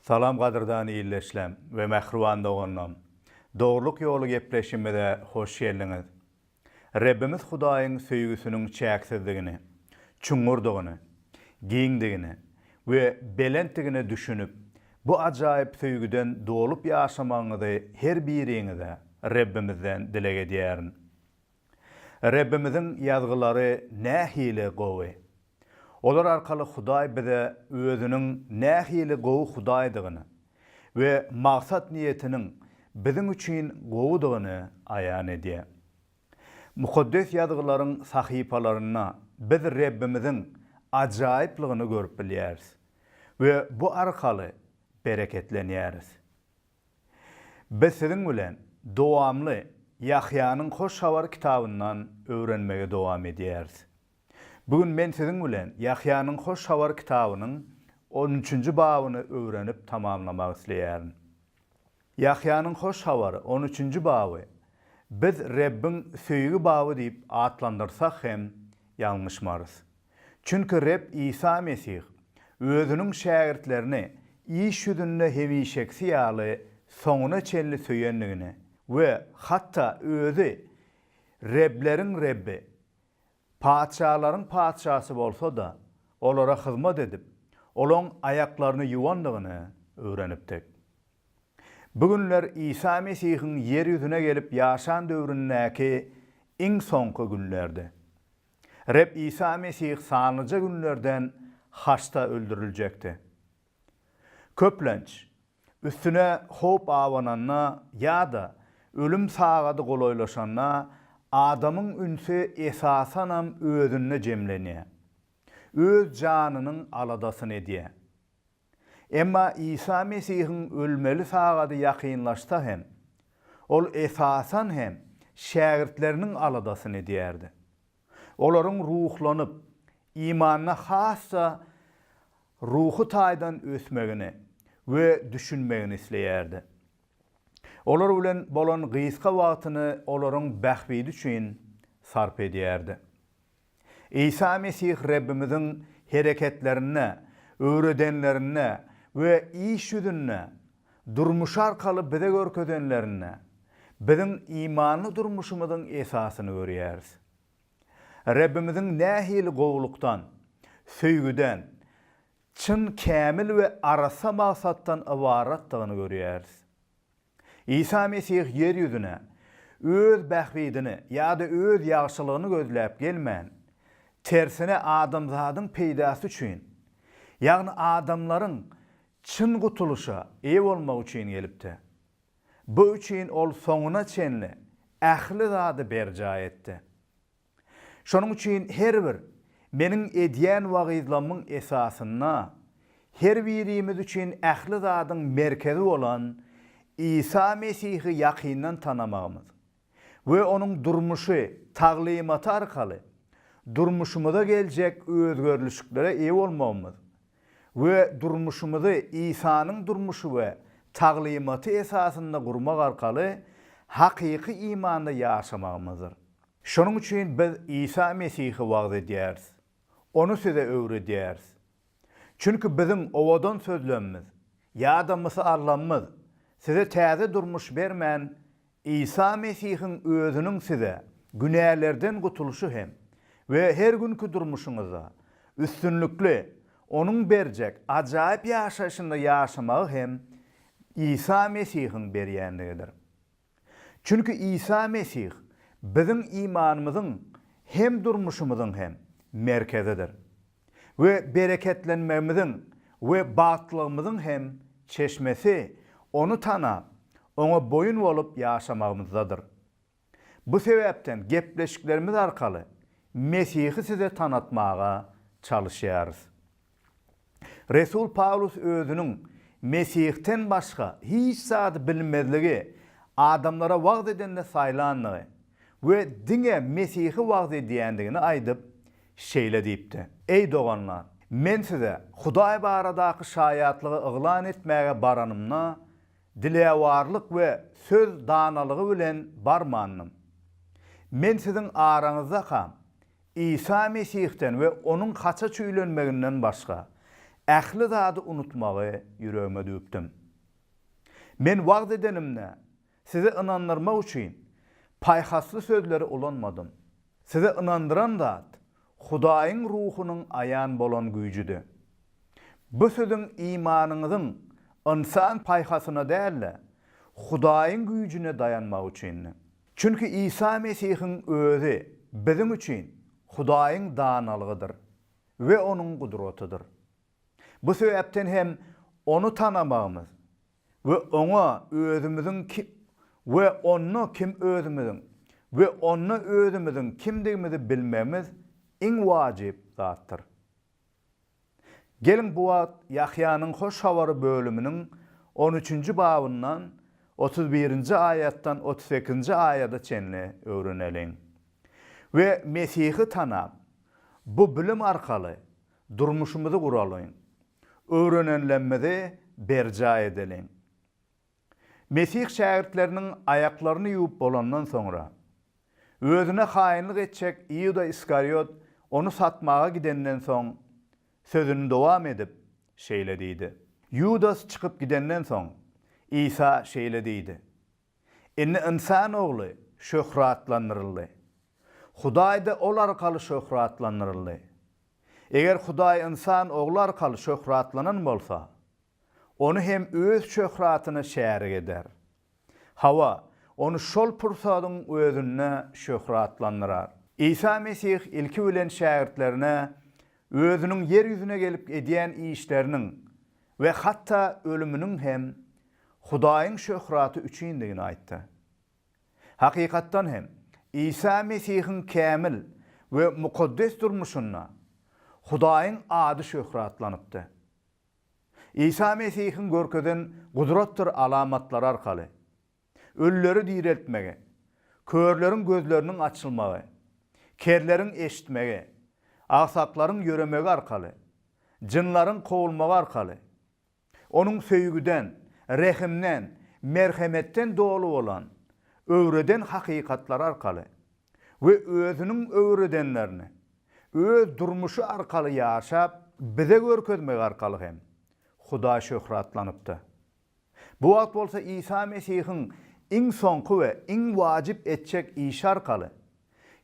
Salam gadyrdan illeşlem we mähriban doganlam! Dogrulyk ýoly gepleşimize hoş geldiňiz! Rebbimiz Hudaýyň söýgüsiniň çäksizdigini, çuňňurdygyny, giňdigini we belentdigine düşünip, bu ajaýyp söýgüden dolup ýaşamagyňyzy her biriňize Rebbimizden dileg edýärin. Rebbimiziň ýazgylary nähili gowy! Olar arkaly Hudaý bize Özüniň nähili gowy Hudaýdygyny we maksat-niýetiniň biziň üçin gowudygyny aýan edýär. Mukaddes Ýazgylaryň sahypalarynda biz Rebbimiziň ajaýyplygyny görüp bilýäris we bu arkaly bereketlenýäris. Biz siziň bilen dowamly Ýahýanyň Hoş Habar kitabyndan öwrenmegi dowam edýäris. Bu gün men siziň bilen Ýahýanyň Hoş Habar kitabynyň on üçünji babyny öwrenip tamamlamak isleýärin. Ýahýanyň Hoş Habary on üçünji baby biz Rebbiň söýgi baby diýip atlandyrsak hem ýalňyşmarys. Çünki Reb Isa Mesih Özüniň şägirtlerini iş ýüzünde hemişekisi ýaly soňuna çenli söýendigini we hatda Özi Rebleriň Rebbi, Patyşalaryň Patyşasy bolsa-da, olara hyzmat edip, olaň aýaklaryny ýuwandygyny öwrenipdik. Bu günler Isa Mesihiň ýer ýüzüne gelip ýaşan döwründäki iň soňky günlerdi. Reb Isa Mesih sanlyja günlerden haçda öldüriljekdi. Köplenç, Üstüne howp abananda ýa-da ölüm sagady golaýlaşanda adamyň ünsi esasanam özünde jemlenýär. Öz janynyň aladasyny edýär. Emma Isa Mesihiň ölmeli sagady ýakynlaşsa hem, ol esasan hem şägirtleriniň aladasyny edýärdi. Olaryň ruhlanyp, imanda has-da ruhy taýdan ösmegini we düşünmegini isleýärdi. Olar bilen bolan gysga wagtyny olaryň bähbidi üçin sarp edýärdi. Isa Mesih Rebbimiziň hereketlerinde, öwredenlerinde we iş ýüzünde durmuşy arkaly bize görkezenlerinde biziň imanly durmuşymyzyň esasyny görýäris. Rabbimiziň nähili gowulykdan, söýgüden, çyn, kämil we arassa maksatdan ybaratdygyny görýäris. Isa Mesih ýer ýüzüne Öz bähbidini ýa-da Öz ýagşylygyny gözläp gelmän, tersine adamzadyň peýdasy üçin, ýagny adamlaryň Çyn gutulyşa eýe bolmak üçin gelipdi. Bu üçin ol soňuna çenli ähli zady berjaý etdi. Şonuň üçin her bir Meniň edýän wagyzlamyň esasynda her birimiz üçin ähli zadyň merkezi bolan Isa Mesihi ýakyndan tanamagymyz, we onuň durmuşy, taglymaty arkaly durmuşymyza geljek özgerlişiklere eýe bolmagymyz we durmuşymyzy Isanyň durmuşy we taglymaty esasynda gurmak arkaly hakyky imanda ýaşamagymyzdyr. Şonuň üçin biz Isa Mesihi wagyz edýäris, Ony size öwredýäris. Çünki biziň owadan sözlemimiz ýa-da mysalamyz size täze durmuş bermän, Isa Mesihiň Özüniň size günälerden gutulyşy hem we her günki durmuşyňyzda üstünlikli Onuň berjek ajaýyp ýaşaýşynda ýaşamagy hem Isa Mesihiň berýändigidir. Çünki Isa Mesih biziň imanymyzyň hem durmuşymyzyň hem merkezidir. we bereketlenmegimiziň we bagtlylygymyzyň hem Çeşmesi Ony tanap, Oňa boýun bolup ýaşamagymyzdadyr. Bu sebäpden gepleşiklerimiz arkaly Mesihi size tanatmaga çalyşýarys. Resul Pawlus özüniň Mesihden başga hiç zady bilmezligi adamlara wagyz edende saýlandygy we diňe Mesihi wagyz edýändigini aýdyp, Şeýle diýipdi, Eý, doganlar! Men size Hudaý baradaky şaýatlygy yglan etmäge baranymda, dilewarlyk we söz danalygy bilen barmandym. Men siziň araňyzdakam, Isa Mesihden we onuň haça çüýlenmeginden başga, ähli zady unutmagy ýüregime düwüpdim. Men wagyz edenimde, Sizi ynandyrmak üçin paýhasly sözleri ulanmadym. Sizi ynandyran zat Hudaýyň Ruhunyň aýan bolan güýjüdi. Bu siziň imanyňyzyň ynsan paýhasyna däl-de, Hudaýyň güýjüne daýanmagy üçindi. Çünki Isa Mesihiň Özi biziň üçin Hudaýyň danalygydyr we Onuň gudratydyr. Bu sebäpden hem Ony tanamagymyz we oňa özümiziň ki, we onda kim özümiziň, we onda özümiziň kimdigimizi bilmegimiz iň wajyp zatdyr. Geliň bu wagt Ýahýanyň Hoş Habary bölüminiň on üçünji babyndan otuz birinji aýatdan otuz sekizinji aýada çenli öwreneliň. We Mesihi tanap, bu bilim arkaly Durmuşymyzy guralyň. Öwrenenlemmizi berjaý edeliň. Mesih şägirtleriniň aýaklaryny ýuwup bolandan soňra, Özüne haýynlyk etjek Iuda Iskariot Ony satmaga gidenden soň, sözüni dowam edip, şeýle diýdi. Ýudas çykyp gidenden soň, Isa şeýle diýdi, Indi ynsan ogly şöhratlandyryldy. Hudaý-da ol arkaly şöhratlandyryldy. Eger Hudaý ynsan ogly arkaly şöhratlanan bolsa, Ony hem Öz şöhratyna şärik eder. Hawa, Ony şol pursadyň özünde şöhratlandyrar. Isa Mesih ilki bilen şägirtlerine Özüniň ýer ýüzüne gelip edýän işleriniň We hatda ölüminiň hem Hudaýyň şöhraty üçindigini aýtdy. Hakykatdan hem, Isa Mesihiň kämil we mukaddes durmuşynda Hudaýyň ady şöhratlanypdy. Isa Mesihiň görkezen gudratdyr alamatlary arkaly ölüleri direltmegi, körleriň gözleriniň açylmagy, kerleriň eşitmegi, agsaklaryň ýöremegi arkaly, jynlaryň kowulmagy arkaly, Onuň söýgüden, rehimden, merhemetden doly bolan, öwreden hakykatlary arkaly we Özüniň öwredenlerini Öz durmuşy arkaly ýaşap, bize görkezmegi arkaly hem Hudaý şöhratlanypdy. Bu wagt bolsa Isa Mesihiň iň soňky we iň wajyp etjek işi arkaly,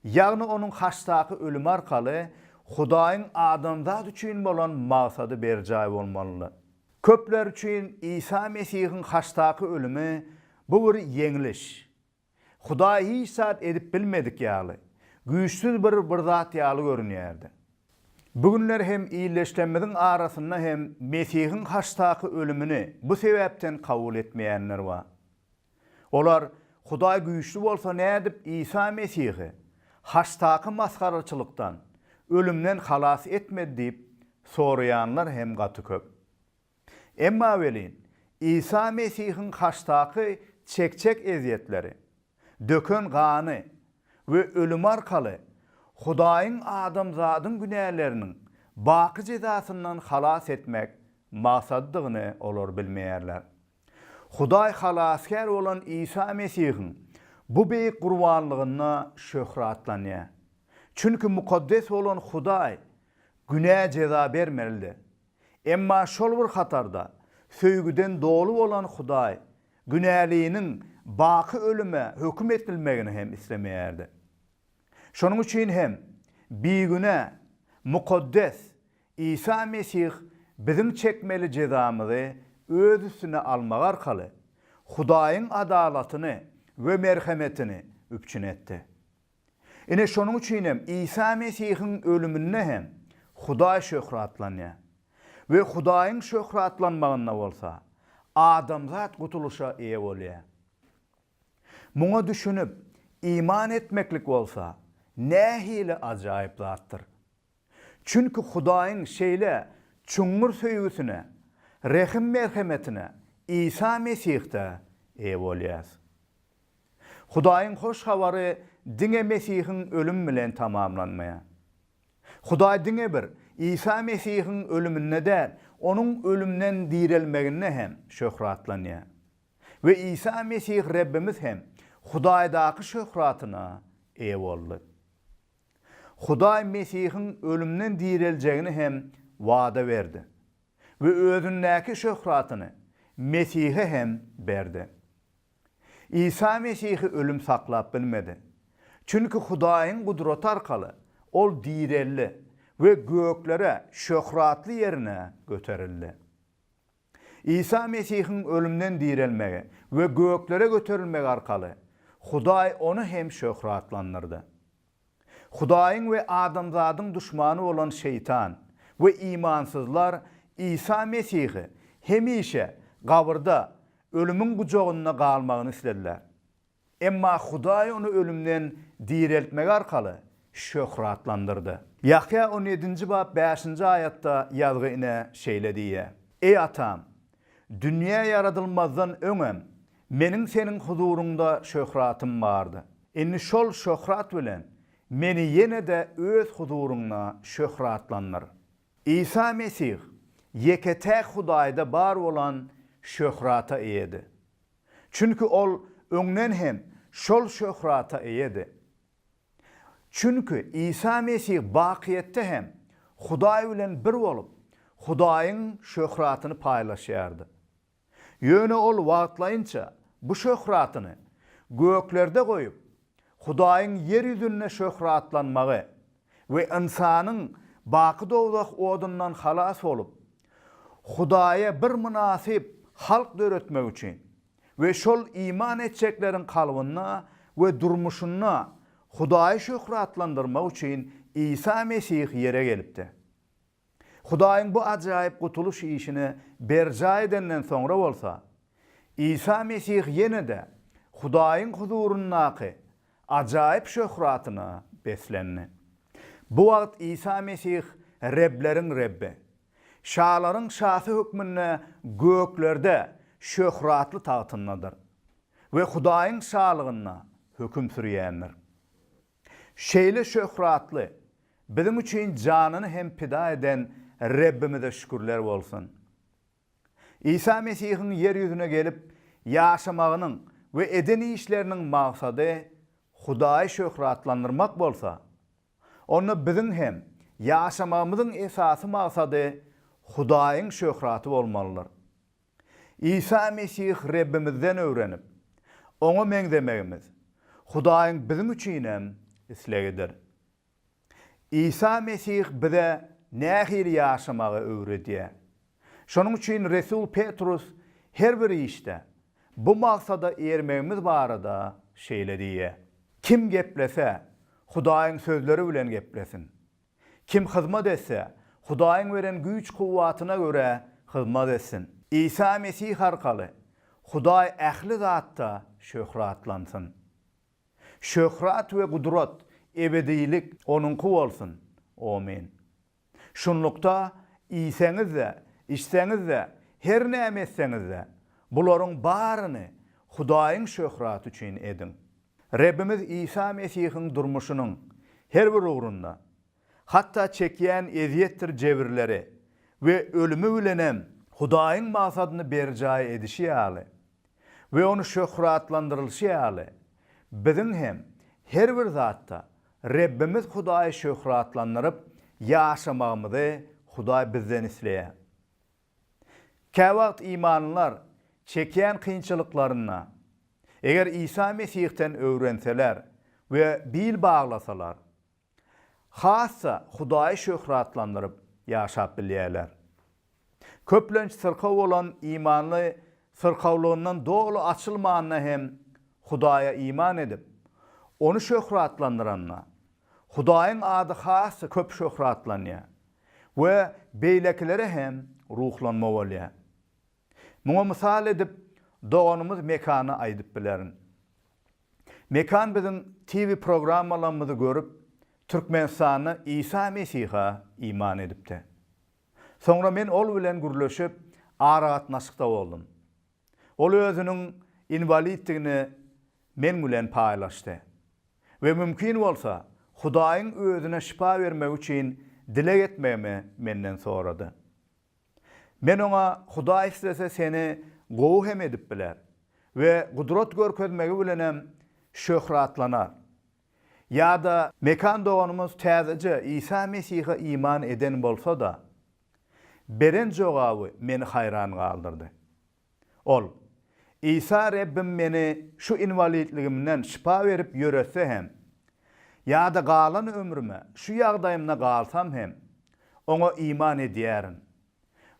ýagny onuň haçdaky ölümi arkaly Hudaýyň adamzat üçin bolan maksady berjaý bolmalydy. Köpler üçin Isa Mesihiň haçdaky ölümi bu bir ýeňliş. Hudaý hiç zat edip bilmedik ýaly, güýçsüz bir bir zat ýaly görünýärdi. Bu günler hem ildeşlerimiziň arasynda hem Mesihiň haçdaky ölümini bu sebäpden kabul etmeýänler bar. Olar, Hudaý güýçli bolsa nädip Isa Mesihi haçdaky masgaraçylykdan, ölümden halas etmedi diýip soraýanlar hem gaty köp. Emma welin, Isa Mesihiň haçdaky çekjek ezýetleri, döken gany we ölümi arkaly Hudaýyň adamzadyň günäleriniň baky jezasyndan halas etmek maksadydygyny olar bilmeýärler. Hudaý Halasgär bolan Isa Mesihiň bu beýik gurbanlygynda şöhratlanýar. Çünki mukaddes bolan Hudaý günä jeza bermelidi. Emma şol bir hatarda, söýgüden doly bolan Hudaý günäliniň baky ölüme höküm edilmegini hem islemeýärdi. Şonuň üçin hem bigünä, mukaddes Isa Mesih biziň çekmeli jezamyzy öz üstüne almagy arkaly, Hudaýyň adalatyny we merhemetini üpjün etdi. Ine, şonuň üçin hem Isa Mesihiň ölüminde hem Hudaý şöhratlanýar we Hudaýyň şöhratlanmagynda bolsa, adamzat gutulyşa eýe bolýar. Muňa düşünip, iman etmeklik bolsa, nähili ajaýyp zatdyr! Çünki Hudaýyň şeýle çuňňur söýgüsine, rehim-merhemetine Isa Mesihde eýe bolýarys. Hudaýyň hoş habary diňe Mesihiň ölümi bilen tamamlanmaýar. Hudaý diňe bir Isa Mesihiň ölüminde däl, Onuň ölümden direlmeginde hem şöhratlanýar. We Isa Mesih Rebbimiz hem Hudaýdaky şöhratyna eýe boldy. Hudaý Mesihiň ölümden direljegini hem wada berdi we Özündäki şöhratyny Mesihe hem berdi. Isa Mesihi ölüm saklap bilmedi. Çünki Hudaýyň gudraty arkaly Ol direldi we göklere şöhratly ýerine göterildi. Isa Mesihiň ölümden direlmegi we göklere göterilmegi arkaly Hudaý ony hem şöhratlandyrdy. Hudaýyň we adamzadyň duşmany bolan Şeýtan we imansyzlar Isa Mesihi hemişe gabyrda, ölümiň gujagynda galmagyny islediler. Emma Hudaý ony ölümden direltmegi arkaly şöhratlandyrdy. Ýahýa on ýedinji bap bäşinji aýatda ýazgy ine şeýle diýýär, Eý Atam! Dünýä ýaradylmazdan öňem Meniň Seniň huzuryňda şöhratym bardy. Indi şol şöhrat bilen Meni ýene-de Öz huzuryňda şöhratlandyr. Isa Mesih ýeke-täk Hudaýda bar bolan şöhrata eýedi. Çünki ol öňden hem şol şöhrata eýedi. Çünki Isa Mesih bakyýetde hem Hudaý bilen bir bolup, Hudaýyň şöhratyny paýlaşýardy. Ýöne ol wagtlaýynça bu şöhratyny göklerde goýup, Hudaýyň ýer ýüzünde şöhratlanmagy we ynsanyň baky dowzah odundan halas bolup, Hudaýa bir mynasyp halk döretmek üçin we şol iman etjekleriň kalbynda we durmuşynda Hudaýy şöhratlandyrmak üçin Isa Mesih ýere gelipdi. Hudaýyň bu ajaýyp gutulyş işini berjaý edenden soňra bolsa, Isa Mesih ýene-de Hudaýyň huzuryndaky ajaýyp şöhratyna beslendi. Bu wagt Isa Mesih Rebleriň Rebbi, şalaryň Şasy hökmünde göklerde şöhratly tagtyndadyr we Hudaýyň şalygynda höküm sürýändir. Şeýle şöhratly, biziň üçin janyny hem pida eden Rebbimize şükürler bolsun! Isa Mesihiň ýer ýüzüne gelip ýaşamagynyň we eden işleriniň maksady Hudaýy şöhratlandyrmak bolsa, onda biziň hem ýaşamagymyzyň esasy maksady Hudaýyň şöhraty bolmalydyr. Isa Mesih Rebbimizden öwrenip, Oňa meňzemegimiz Hudaýyň biziň üçinem islegidir. Isa Mesih bize nähili ýaşamagy öwredýär. Şonuň üçin resul Petrus her bir işde bu maksada ermegimiz barada şeýle diýýär, Kim geplese, Hudaýyň sözleri bilen geplesin. Kim hyzmat etse, Hudaýyň beren güýç-kuwwatyna görä hyzmat etsin. Isa Mesih arkaly Hudaý ähli zatda şöhratlansyn. Şöhrat we gudrat, ebedilik Onuňky bolsun. Omyn. Şunlukda, iýseňiz-de, içseňiz-de, her näme etseňiz-de, bularyň baryny Hudaýyň şöhraty üçin ediň. Rebbimiz Isa Mesihiň durmuşynyň her bir ugrunda, hatda çekýän ezýetdir jebirleri we ölümi bilenem Hudaýyň maksadyny berjaý edişi ýaly we ony şöhratlandyrylyşy ýaly, biziň hem her bir zatda Rebbimiz Hudaýy şöhratlandyryp ýaşamagymyzy Hudaý bizden isleýär. Käwagt imanlylar çekýän kynçylyklarynda, eger Isa Mesihden öwrenseler we bil baglasalar, has-da Hudaýy şöhratlandyryp ýaşap bilýärler. Köplenç syrkaw bolan imanly syrkawlygyndan doly açylmanda hem Hudaýa iman edip, Ony şöhratlandyranda, Hudaýyň ady has-da köp şöhratlanýar. we beýlekilere hem ruhlanma bolýar. Muňa mysal edip, doganymyz Mekany aýdyp bilerin. Mekan biziň TV programmalarymyzy görüp, Türkmenistanda Isa Mesiha iman edipdi. Soňra men ol bilen gürleşip, aragatnaşykda boldum. Ol özüniň inwaliddigini men bilen paýlaşdy we mümkin bolsa, Hudaýyň özüne şypa bermegi üçin dileg etmegimi menden sorady. Men oňa Hudaý islese seni gowy hem edip biler we gudrat görkezmegi bilenem şöhratlanar. Ýa-da Mekan doganymyz täzeje Isa Mesihe iman eden bolsa-da, beren jogaby meni haýran galdyrdy. Ol, Isa Rebbim meni şu inwalidligimden şypa berip ýöretse hem, ýa-da galan ömrüme şu ýagdaýymda galsam hem, Oňa iman edýärin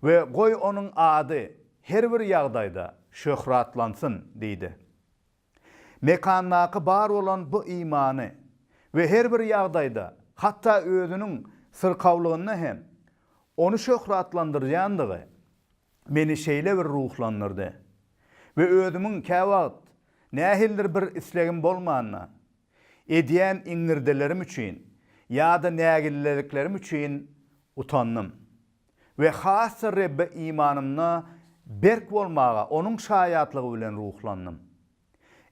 we goý Onuň ady her bir ýagdaýda şöhratlansyn diýdi. Mekandaky bar bolan bu imany we her bir ýagdaýda, hatda özüniň syrkawlygynda hem ony şöhratlandyrýandygy meni şeýle bir ruhlandyrdy we özümiň käwagt nähilidir bir islegim bolmanda edýän iňňirdelerim üçin ýa-da nägilliliklerim üçin utandym. we has-da Rebbe imanymda berk bolmaga Onuň şaýatlygy bilen ruhlandym.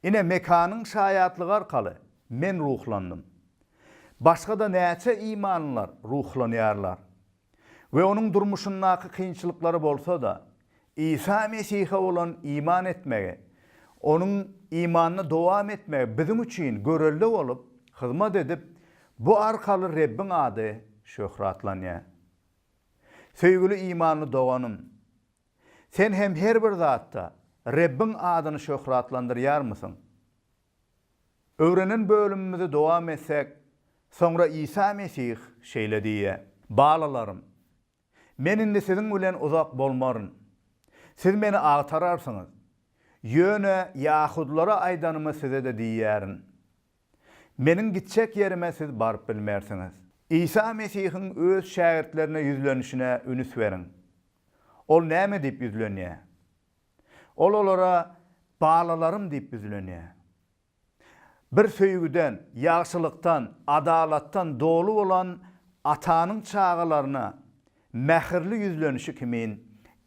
Ine, Mekanyň şaýatlygy arkaly men ruhlandym. Başga-da näçe imanlylar ruhlanýarlar we onuň durmuşyndaky kynçylyklary bolsa-da, Isa Mesihe bolan iman etmegi, Onuň imanyny dowam etmegi biziň üçin görelde bolup hyzmat edip, bu arkaly Rebbiň ady şöhratlanýar. Söýgüli imanly doganym! Sen hem her bir zatda Rebbiň adyny şöhratlandyrýarmysyň? Öwrenen bölümimizi dowam etsek, Soňra Isa Mesih şeýle diýýär. Balalarym, Men indi siziň bilen uzak bolmaryn. Siz meni agtararsyňyz. Ýöne ýahudylara aýdanymy size-de diýýärin. Meniň gitjek ýerime siz baryp bilmersiňiz. Isa Mesihiň öz şägirtlerine ýüzlenişine ünüs beriň. Ol näme diýip ýüzlenýär? Ol olara balalarym diýip ýüzlenýär. Bir söýgüden, ýagşylykdan, adalatdan doly bolan Atanyň çagalaryna mähirli ýüzlenişi kimin,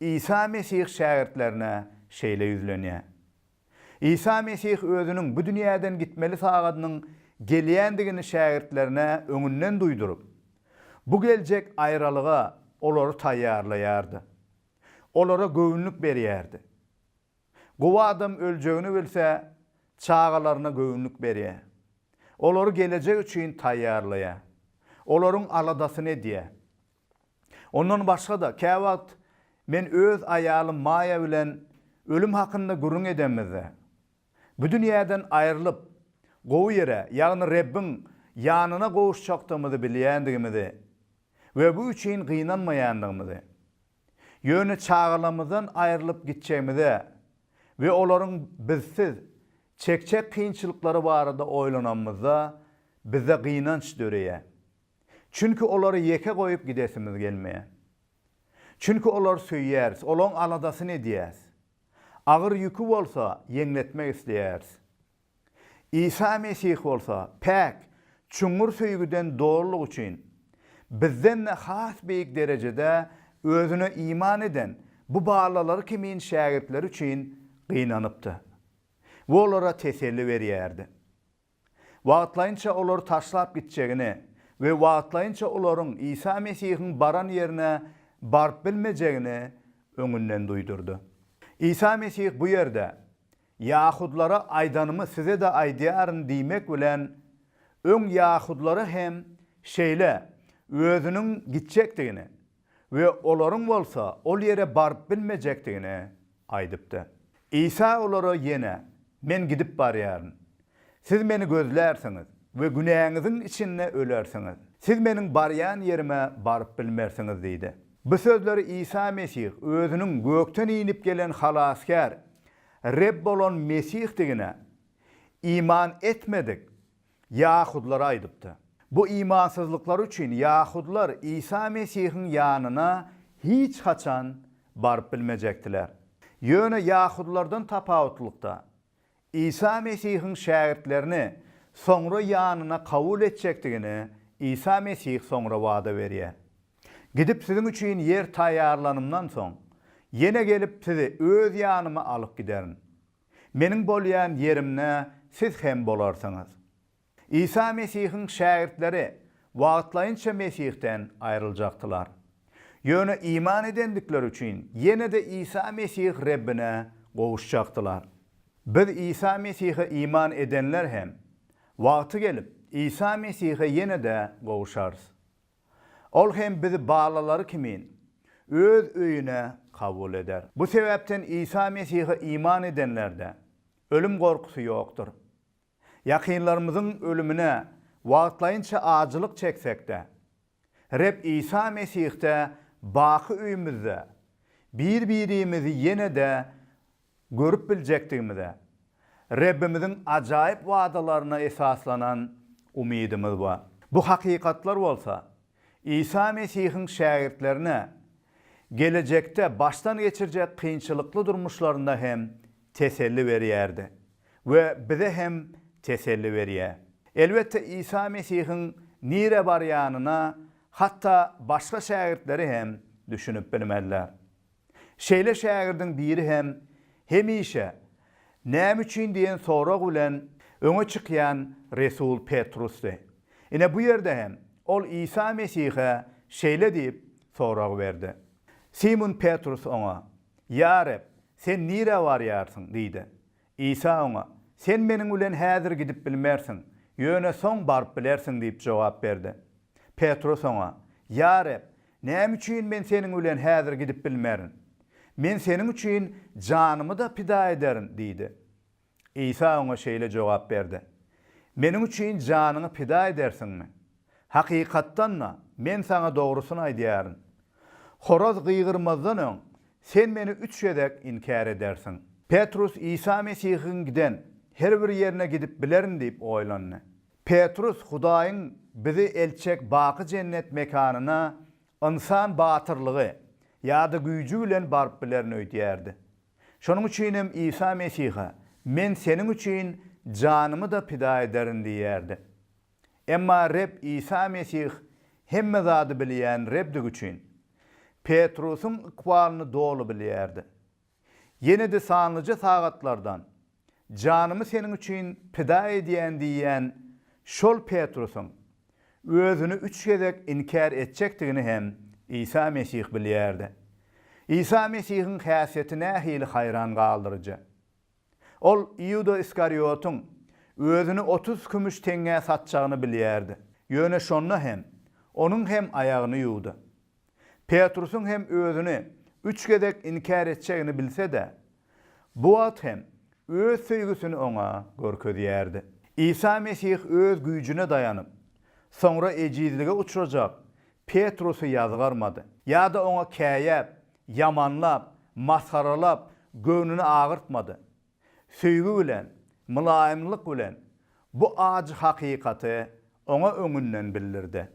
Isa Mesih şägirtlerine şeýle ýüzlenýär. Isa Mesih özüniň bu dünýäden gitmeli sagadynyň gelýändigini şägirtlerine öňünden duýduryp, bu geljek aýralyga olary taýýarlaýardy. Olara göwünlik berýärdi. Gowy adam öljegini bilse, çagalaryna göwünlik berýär. Olary gelejek üçin taýýarlaýar. Olaryň aladasyny edýär. Ondan başga-da, käwagt men öz aýalym Maýa bilen ölüm hakynda gürrüň edemizde, bu dünýäden aýrylyp, gowy ýere, ýagny Rebbiň ýanyna gowuşjakdygymyzy bilýändigimizi we bu üçin gynanmaýandygymyzy, ýöne çagalarymyzdan aýrylyp gitjegimize we olaryň bizsiz çekjek kynçylyklary barada oýlanamyzda, bizde gynanç döreýär. Çünki olary ýeke goýup gidesimiz gelmeýär. Çünki olary söýýäris, olaň aladasyny edýäris. Agyr ýüki bolsa, ýeňletmek isleýäris. Isa Mesih bolsa, päk, çuňňur söýgüden dolulyk üçin, bizden-de has beýik derejede Özüne iman eden bu balalary kimin şägirtleri üçin gynanypdy we olara teselli berýärdi. wagtlaýynça olary taşlap gitjegini we wagtlaýynça olaryň Isa Mesihiň baran ýerine baryp bilmejegini öňünden duýdurdy. Isa Mesih bu ýerde, Ýahudylara aýdanymy size-de aýdýaryn diýmek bilen, öň ýahudylara hem şeýle Özüniň gitjekdigini we olaryň bolsa ol ýere baryp bilmejekdigini aýdypdy. Isa olara ýene, Men gidip barýaryn. Siz Meni gözlärsiňiz we günäňiziň içinde ölersiňiz. Siz Meniň barýan ýerime baryp bilmersiňiz diýdi. Bu sözleri Isa Mesih Özüniň gökden inip gelen Halasgär, Reb bolan Mesihdigine iman etmedik Ýahudlara aýdypdy. Bu imansyzlyklary üçin ýahudlar Isa Mesihiň ýanyna hiç haçan baryp bilmejekdiler. Ýöne ýahudlardan tapawutlykda, Isa Mesihiň şägirtlerini soňra ýanyna kabul etjekdigini Isa Mesih soňra wada berýär. Gidip siziň üçin ýer taýýarlanymdan soň, ýene gelip sizi öz ýanyma alyp giderin. Meniň bolýan ýerimde siz hem bolarsyňyz. Isa Mesihiň şägirtleri wagtlaýynça Mesihden aýryljakdylar. Ýöne iman edendikleri üçin ýene-de Isa Mesih Rebbine gowuşjakdylar. Biz Isa Mesihe iman edenler hem, wagty gelip, Isa Mesihe ýene-de gowuşarys. Ol hem bizi balalary kimin Öz öýüne kabul eder. Bu sebäpden Isa Mesihe iman edenlerde ölüm gorkusy ýokdur. Ýakynlarymyzyň ölümine wagtlaýynça ajylyk çeksek-de, Reb Isa Mesihde baky öýümizde bir-birimizi ýene-de Görüp biljekdigimize, Rebbimiziň ajaýyp wadalaryna esaslanan umydymyz bar. Bu hakykatlar bolsa, Isa Mesihiň şägirtlerine gelejekde başdan geçirjek kynçylykly durmuşlarynda hem teselli berýärdi we bize hem teselli berýär. Elbetde, Isa Mesihiň nirä barýanyna hatda başga şägirtleri hem düşünip bilmezler. Şeýle şägirdiň biri hem hemişe Näme üçin diýen sorag bilen öňe çykýan resul Petrusdy. Ine bu ýerde hem ol Isa Mesihe şeýle diýip sorag berdi. Simun Petrus oňa, Ýa Reb, sen nirä barýarsyň? diýdi. Isa oňa, Sen meniň bilen häzir gidip bilmersiň, ýöne soň baryp bilersiň diýip jogap berdi. Petrus oňa, Ýa Reb, näme üçin men seniň bilen häzir gidip bilmerin? Men seniň üçin janymy-da pida ederin diýdi. Isa oňa şeýle jogap berdi, Meniň üçin janyňy pida edersiňmi? Hakykatdan-da, men saňa dogrusyny aýdýaryn, horaz gygyrmazdan öň, sen meni üç gezek inkär edersiň. Petrus Isa Mesihiň giden her bir ýerine gidip bilerin diýip oýlandy. Petrus Hudaýyň bizi eltjek baky jennet mekanyna ynsan batyrlygy ýa-da güýji bilen baryp bilerin öýdýärdi. Şonuň üçinem Isa Mesihe, Men seniň üçin janymy-da pida ederin diýýärdi. Emma Reb Isa Mesih hemme zady bilýän Rebdigi üçin, Petrusyň ykbalyny doly bilýärdi. Ýene-de sanlyja sagatlardan, Janymy seniň üçin pida edýän diýýän şol Petrusyň özüni üç gezek inkär etjekdigini hem Isa Mesih bilýärdi. Isa Mesihiň häsiýeti nähili haýran galdyryjy! Ol Iuda Iskariotyň özüni otuz kümüş teňňä satjagyny bilýärdi. Ýöne şonda hem Onuň hem aýagyny ýuwdy. Petrusyň hem özüni üç gezek inkär etjegini bilse-de, bu wagt hem Öz söýgüsini oňa görkezýärdi. Isa Mesih Öz güýjüne daýanyp, soňra ejizlige uçrajak Petrusy ýazgarmady ýa-da oňa käýäp, ýamanlap, masgaralap göwnüni agyrtmady. Söýgi bilen, mylaýymlyk bilen bu ajy hakykaty oňa öňünden bildirdi.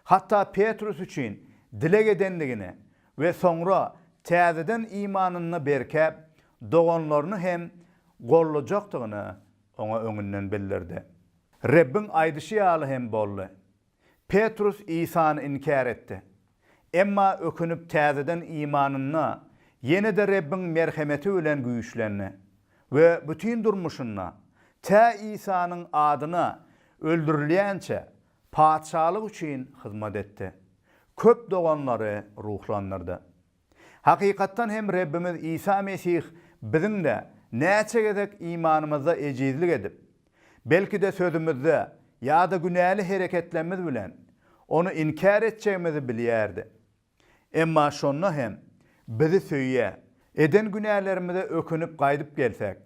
Hatda Petrus üçin dileg edendigini we soňra täzeden imanynda berkäp, doganlaryny hem goldajakdygyny oňa öňünden bildirdi. Rebbiň aýdyşy ýaly hem boldy. Petrus Isany inkär etdi. Emma ökünip täzeden imanynda ýene-de Rebbiň merhemeti bilen güýçlendi we bütin durmuşynda, tä Isanyň adyna öldürilýänçä, Patyşalyk üçin hyzmat etdi. Köp doganlary ruhlandyrdy. Hakykatdan hem Rebbimiz Isa Mesih biziň-de näçe gezek imanymyzda ejizlik edip, belki-de sözümizde ýa-da günäli hereketlerimiz bilen Ony inkär etjegimizi bilýärdi. Emma şonda hem bizi söýýär. Eden günälerimize ökünip gaýdyp gelsek,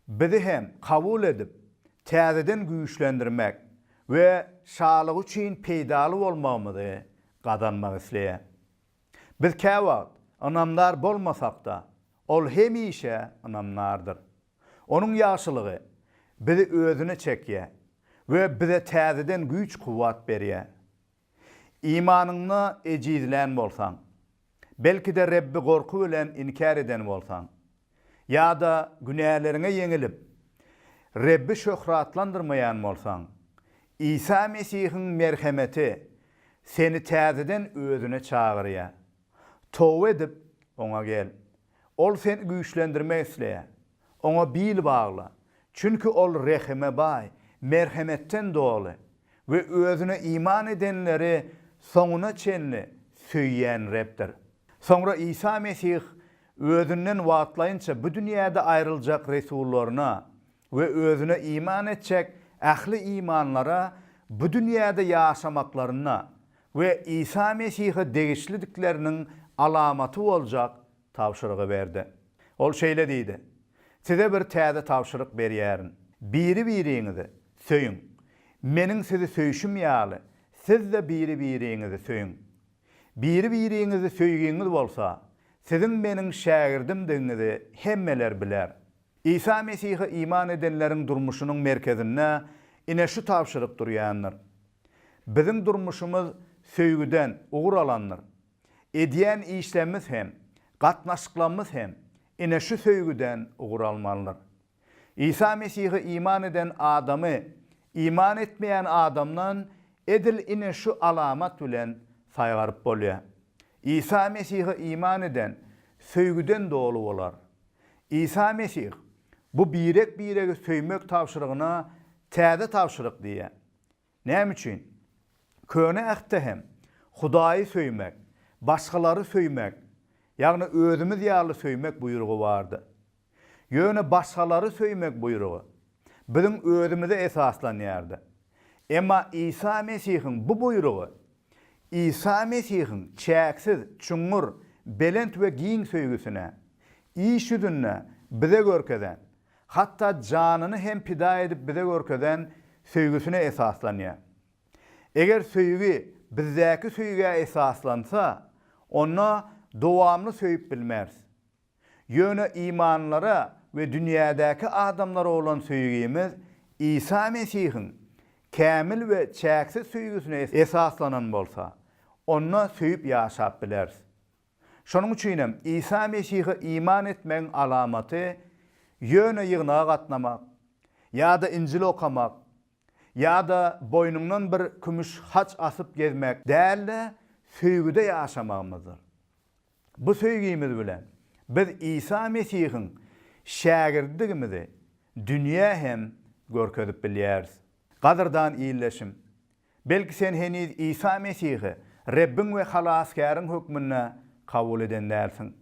bizi hem kabul edip, täzeden güýçlendirmek we şalygy üçin peýdaly bolmagymyzy gazanmak isleýär. Biz käwagt ynamdar bolmasak-da, Ol hemişe ynamdardyr. Onuň ýagşylygy bizi Özüne çekýär we bize täzeden güýç-kuwwat berýär. Imanyňda ejizlän bolsaň, belki-de Rebbi gorky bilen inkär eden bolsaň, ýa-da günäleriňe ýeňilip, Rebbi şöhratlandyrmaýan bolsaň, Isa Mesihiň merhemeti seni täzeden Özüne çagyrýar. Toba edip, Oňa gel. Ol seni güýçlendirmek isleýär. Oňa bil bagla, çünki Ol rehime baý, merhemetden doly we Özüne iman edenleri soňuna çenli söýýän Rebdir. Soňra Isa Mesih Özünden wagtlaýynça bu dünýäde aýryljak resullaryna we özüne iman etjek ähli imanlara bu dünýäde ýaşamaklaryna we Isa Mesihe degişlidikleriniň alamaty boljak tabşyrygy berdi. Ol şeýle diýdi, Size bir täze tabşyryk berýärin, biri-biriňizi söýüň. Meniň sizi söýşüm ýaly, siz-de biri-biriňizi söýüň. Biri-biriňizi söýgiňiz bolsa, siziň Meniň şägirdimdigiňizi hemmeler biler. Isa Mesihe iman edenleriň durmuşynyň merkezinde ine şu tabşyryk durýandyr. Biziň durmuşymyz söýgüden ugur alandyr. Edýän işlerimiz hem, gatnaşyklarymyz hem ine şu söýgüden ugur almalydyr. Isa Mesihe iman eden adamy iman etmeýän adamdan edil ine şu alamat bilen saýgaryp bolýar. Isa Mesihe iman eden söýgüden doly bolar. Isa Mesih bu birek-biregi söýmek tabşyrygyna täze tabşyryk diýýär. Näme üçin? Köne Ähtde hem Hudaýy söýmek, başgalary söýmek, ýagny özümiz ýaly söýmek buýrugy bardy. Ýöne başgalary söýmek buýrugy biziň özümize esaslanýardy. Emma Isa Mesihiň bu buýrugy Isa Mesihiň çäksiz, çuňňur, belent we giň söýgüsine, iş ýüzünde bize görkezen hatda janyny hem pida edip bize görkezen söýgüsine esaslanýar. Eger söýgi bizdäki söýgä esaslansa, onda dowamly söýüp bilmeris. Ýöne imanlylara we dünýädäki adamlara bolan söýgimiz Isa Mesihiň kämil we çäksiz söýgüsine esaslanan bolsa, onda söýüp ýaşap bileris. Şonuň üçin hem Isa Mesihe iman etmegiň alamaty ýöne ýygnaga gatnamak ýa-da Injil okamak ýa-da boýnuňdan bir kümüş haç asyp gezmek däl-de, söýgüde ýaşamagymyzdyr. Bu söýgimiz bilen biz Isa Mesihiň şägirdidigimizi dünýä hem görkezip bilýäris. Gadyrdan ildeşim, Belki sen heniz Isa Mesihi Rebbiň we Halasgäriň hökmünde kabul eden dälsiň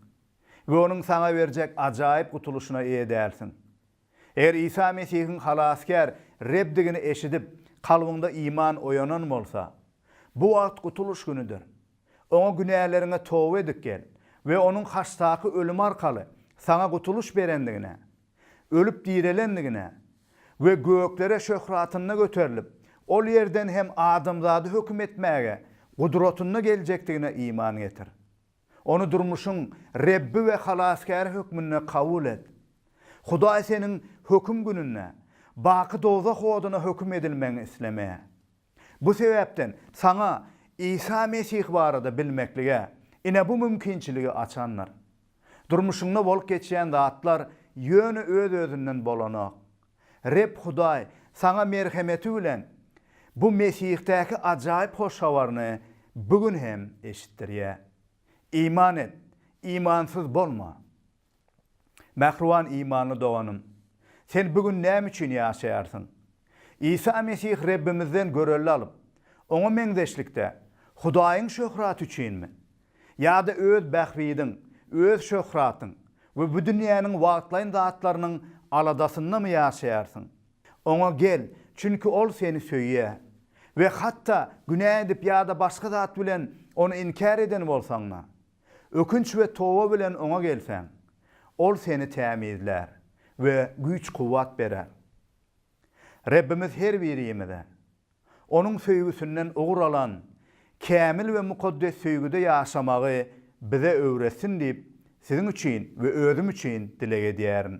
we Onuň saňa berjek ajaýyp gutulyşyna eýe dälsiň. Eger Isa Mesihiň Halasgär Rebdigini eşidip, kalbyňda iman oýanan bolsa, bu wagt gutulyş günüdir. Oňa günäleriňe toba edip gel we Onuň haçdaky ölümi arkaly saňa gutulyş berendigine, ölüp direlendigine we göklere şöhratynda göterilip, ol ýerden hem adamzady höküm etmäge gudratynda geljekdigine iman getir. Ony durmuşyň Rebbi we Halasgäri hökmünde kabul et. Hudaý seniň Höküm gününde baky dowzah oduna höküm edilmegiňi islemeýär. Bu sebäpden saňa Isa Mesih barada bilmeklige ine bu mümkinçiligi açandyr. Durmuşyňda bolup geçýän zatlar ýöne öz-özünden bolanok. Reb Hudaý saňa merhemeti bilen bu Mesihdaky ajaýyp hoş habaryny bu gün hem eşitdirýär. Iman et, imansyz bolma! Mähriban imanly doganym! Sen bu gün näme üçin ýaşaýarsyň? Isa Mesih Rebbimizden görelde alyp, Oňa meňzeşlikde, Hudaýyň şöhraty üçinmi? Ýa-da öz bähbidiň, öz şöhratyň we bu dünýäniň wagtlaýyn zatlarynyň aladasyndamy ýaşaýarsyň? Oňa gel, çünki Ol seni söýýär. We hatda günä edip ýa-da başga zat bilen Ony inkär eden bolsaň-da, Ökünç we toba bilen Oňa gelseň, Ol seni tämizlär we güýç-kuwwat berer. Rebbimiz her birimize, Onuň söýgüsinden ugur alan, kämil we mukaddes söýgüde ýaşamagy bize öwretsin diýip, siziň üçin we özüm üçin dileg edýärin.